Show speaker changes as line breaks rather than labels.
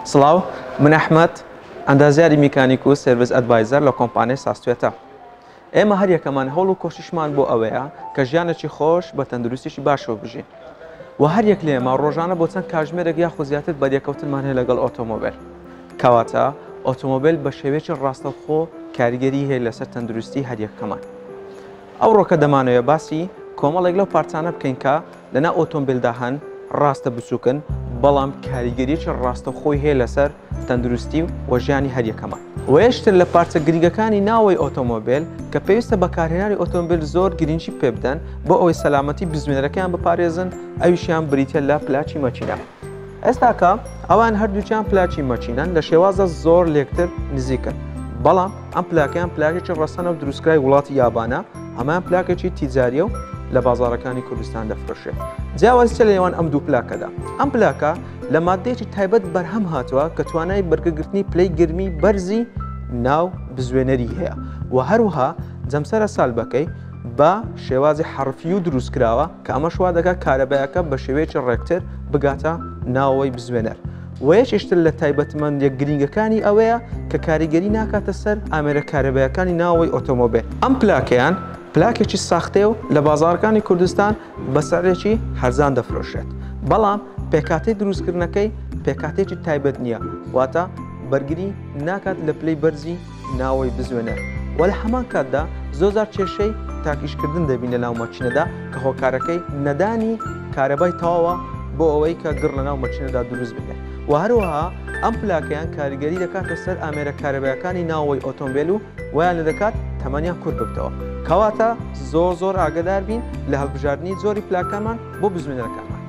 سڵاو من ئەحمد ئەندازیاری میکانیک و سرویس ئەدڤایزەر لە کۆمپانیای ساستێتە ئێمە هەر یەکەمان هەوڵ و کۆشیشمان بۆ ئەوەیە کە ژیانێکی خۆش بە تەندروستیشی باشەوە بژین و هەر یەک لێمە ڕۆژانە بۆ چەند کاژمێرەک یاخۆ زیاتر بەریەکەوتنمان هەیە لەگەڵ ئۆتۆمۆبیل کەواتە ئۆتۆمۆبیل بە شێوێکی ڕاستەوخۆ کاریگەری هەیە لەسەر تەندروستی هەریەکەمان ئەوڕۆ کە دەمانەوێ باسی کۆمەڵێک لەو پارچانە بکەین کە لە ناو ئۆتۆمبیلدا هەن، ڕاستە بچووکن، بەڵام کاریگەرییەکی ڕاستەوخۆی هەیە لەسەر تەندروستی و ژیانی هەر یەکەمان. وەیەکێکن لە پارچە گرینگەکانی ناوەوەی ئۆتۆمۆبیل کە پێویستە بەکارهێنانی ئۆتۆمبیل زۆر گرینگی پێ بدەن بۆ ئەوەی سەلامەتی بزوێنەرەکەیان بپارێزن، ئەویشیان بریتییە لە پلاکی مەکینە. ئێستاکە ئەوان هەردووکیان پلاکی مەچینەن لە شێوازە زۆر لێکتر نزیکن بەڵام ئەم پلاکیان پلاکێکی ڕەسەنە و دروستکرای وڵاتی یابانە ئەمان پلاکێکی تیجاریە و لە بازارەکانی کوردستان دەفرۆشێت جیاوازی چە لە نێوان ئەم دوو پلاکەدا ئەم پلاکە لە مادەیەکی تایبەت بەرهەم هاتووە کە توانای بەرگەگرتنی پلەی گرمی بەرزی ناو بزوێنەری هەیە و هەروها جەمسەرە سالبەکەی بە شێوازی حرفی و دروست کراوە کە ئەمەش وا دەکات کارەبایەکە بە شێوەیەکی ڕێکتر بگاتە ناوەوەی بزوێنەر. وەیەکیشتر لە تایبەتمەندە گرینگەکانی ئەوەیە کە کاریگەری ناکاتە سەر ئامێرە کارەبایەکانی ناوەوەی ئۆتۆمۆبێل. ئەم پلاکەیان پلاکێکی ساختەیە و لە بازاڕەکانی کوردستان بە سعرێکی هەرزان دەفرۆشرێت، بەڵام پێکهاتەی دروستکردنەکەی پێکهاتەیەکی تایبەت نییە، واتە بەرگری ناکات لە پلەی بەرزی ناوەی بزوێنە و لە هەمان کاتدا زۆزار کێشەی تاکیشکردن دەبین لە ناو مەچینەدا کە هۆکارەکەی نەدانی کارەبای تەواوە بۆ ئەوەی کە گڕ لە ناو مەچینەدا دروست بێت و هەروەها ئەم پلاکەیان کاریگەری دەکاتە سەر ئامێرە کارەبایەکانی ناوەوەی ئۆتۆمبیل و ویان لە دەکات تەمەنیان کورت ببتەوە کەواتە زۆر زۆر ئاگدار بین لە هەڵبژاردننی زۆری پلاکەمان بۆ بزوێنەرەکانمان